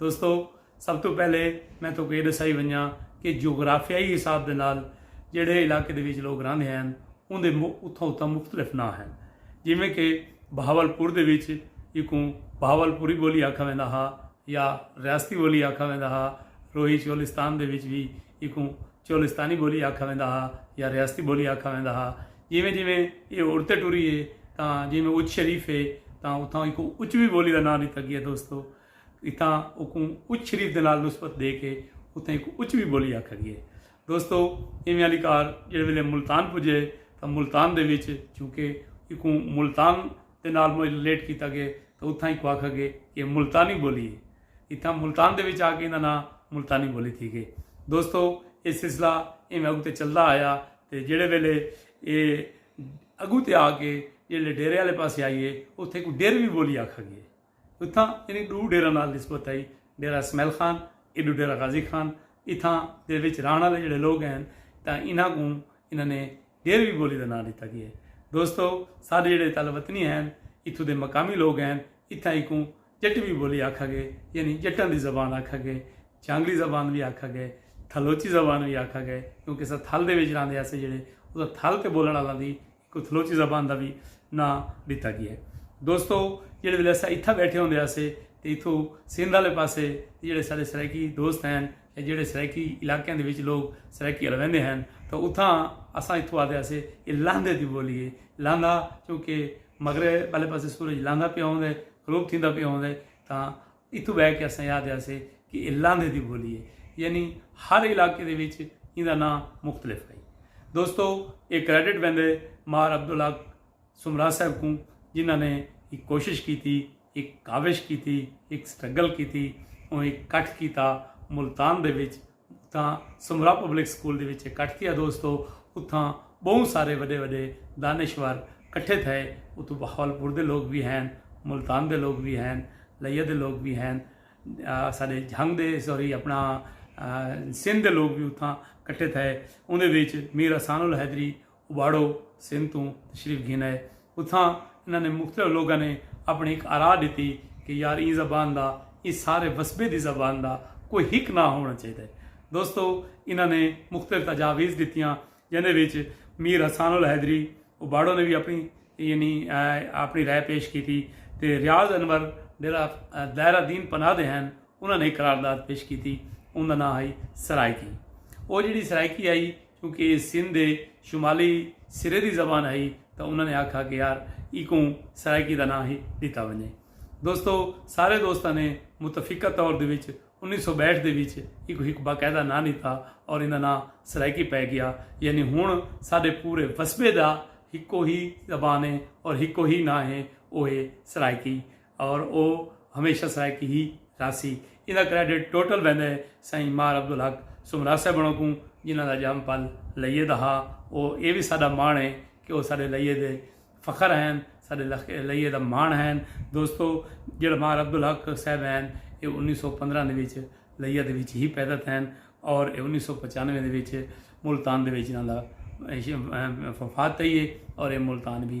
دوستو سب تو پہلے میں تو یہ دسائی ونجا کہ جغرافیائی حساب دے نال جڑے علاقے دے وچ لوگ رہندے ہیں ان دے اتھاں اتھاں مختلف ناں ہیں جیویں کہ بہاول پور دے وچ یکوں بہاول پوری بولی آکھا ویندا ہا یا ریاستی بولی آکھا ویندا ہا روہی چولستان دے وچ بھی یکوں چولستانی بولی آکھا ویندا ہا یا ریاستی بولی آکھا ویندا ہا جیویں جیویں یہ اڑتے ٹری ہے تاں جیویں اچ شریف ہے تاں اتھاں یکوں اچوی بولی دا ناں ڈتا گیا دوستو اتھاں اوکوں اچ شریف دے نال نسبت ڈے کے اتھاں ایکوں اچ وی بولی آکھا گیے۔ دوستو ایویں آلی کار جیڑھے ویلے ملتان پجے تاں ملتان دے وچ چونکہ ایکوں ملتان دے نال مج ریلیٹ کیتا گے تاں اتھاں ایکوں آکھا گے کہ اے ملتانی بولی ہے۔ اتھاں ملتان دے وچ آ کے ایندا ناں ملتانی بولی تھی گے۔ دوستو اے سلسلہ ایویں اگوں تے چلدا آیا تے جیڑھے ویلے اے اگوں تے آ کے جیڑھے ڈیرے آلے پاسے آئیے اتھاں ایکوں ڈیروی بولی آکھا گیے۔ اتھاں ایندی ݙو ڈیراں نال نسبت ہئی، ڈیرہ اسمعیل خان ایݙو ڈیرہ غازی خان۔ اتھاں دے وچ رہݨ آلے جیڑھے لوگ ہین تاں انہاں کوں انہاں نے ڈیروی بولی دا ناں ݙتا ڳئے۔ دوستو ساݙے جیڑھے تل وطنی ہین اتھوں دے مقامی لوگ ہین اتھاں ایکوں جٹوی بولی آکھا ڳئے یعنی جٹاں دی زبان آکھا ڳئے۔ چانگلی زبان وی آکھا ڳئے۔ تھلوچی زبان وی آکھا ڳئے کیونکہ اساں تھل دے وچ رہندے ہاسے جیڑھے اتھاں تھل تے بولݨ آلاں دی کو تھلوچی زبان دا وی ناں ڈتا گیا ہے۔ دوستو جیڑھے ویلے اساں اتھاں بیٹھے ہوندے ہاسے تے اتھو سندھ آلے پاسے جیڑھے ساڈے سرائیکی دوست ہن یا جیڑھے سرائیکی علاقیاں دے وچ لوگ سرائیکی الویندے ہن تاں اتھاں اساں اتھو آدے ہاسے اے لاندھے دی بولی ہے۔ لاندھا چونکہ مغرب آلے پاسے سورج لاندھا پیا ہوندے غروب تھیندا پیا ہوندے تاں اتھوں بہہ کے اساں یاد ہیاسے کہ اے لاندھے دی بولی ہے یعنی ہر علاقے دے وچ ایندا ناں مختلف ہئی۔ دوستو اے کریڈٹ ویندے مار عبدالحق سومرا صاحب کوں جنہاں نے ہک کوشش کیتی، ہک کاوش کیتی، ہک سٹرگل کیتی، اوں ہک کٹھ کیتا ملتان دے وچ تاں سمرا پبلک سکول دے وچ اکٹھ تھیا دوستو اتھاں بہوں سارے وڈے وڈے دانشور کٹھے تھئے اتھوں بہاولپور دے لوگ وی ہین ملتان دے لوگ وی ہین لیا دے لوگ وی ہین سارے جھنگ دے سوری اپنا سندھ دے لوگ وی اتھاں کٹھے تھئے اندے وچ میر حسان الحیدری واڑو سندھ توں تشریف گھن آئے۔ اتھاں انہاں نے مختلف لوگاں نے اپنی ہک آراء ڈتی کہ یار ایں زبان دا ایں سارے وسبے دی زبان دا کوئی ہک ناں ہووݨا چاہیدا ہے۔ دوستو انہاں نے مختلف تجاویز ڈتیاں جیندے وچ میر حسان الحیدری واڑو نے وی اپنی یعنی اپنی رائے پیش کیتی تے ریاض انور جیڑھا دائرہ دین پناہ دے ہن انہاں نے ہک قرارداد پیش کیتی اوندا ناں ہئی سرائیکی۔ او جیڑھی سرائیکی ہئی۔ کیونکہ ایہ سندھ دے شمالی سرے دی زبان ہئی تاں انہاں نے آکھا کہ یار ایکوں سرائیکی دا ناں ہی ݙتا ونڄے۔ دوستو سارے دوستاں نے متفقہ طور دے وچ انیس سو ٻہٹھ دے وچ ایکوں ہک باقاعدہ ناں ݙتا اور ایندا ناں سرائیکی پئے ڳیا یعنی ہݨ ساݙے پورے وسبے دا ہکو ہی زبان ہے اور ہکو ہی ناں ہے او ہے سرائیکی اور او ہمیشہ سرائیکی ہی راہسی۔ ایندا کریڈٹ ٹوٹل ویندا ہے سائیں مار عبدالحق سومرا صاحبݨوں کوں جنہاں دا ڄم پل لئیے دا ہا۔ او اے وی ساݙا ماݨ ہے کہ او ساݙے لئیے دے فخر ہین، ساݙے لئیے دا ماݨ ہین۔ دوستو جیڑھا مار عبدالحق صاحب ہین اے انیس سو پندرہ دے وچ لئیے دے وچ ہی پیدا تھین اور اے انیس سو پچانوے دے وچ ملتان دے وچ انہاں دا وفات تھئی ہے اور اے ملتان وی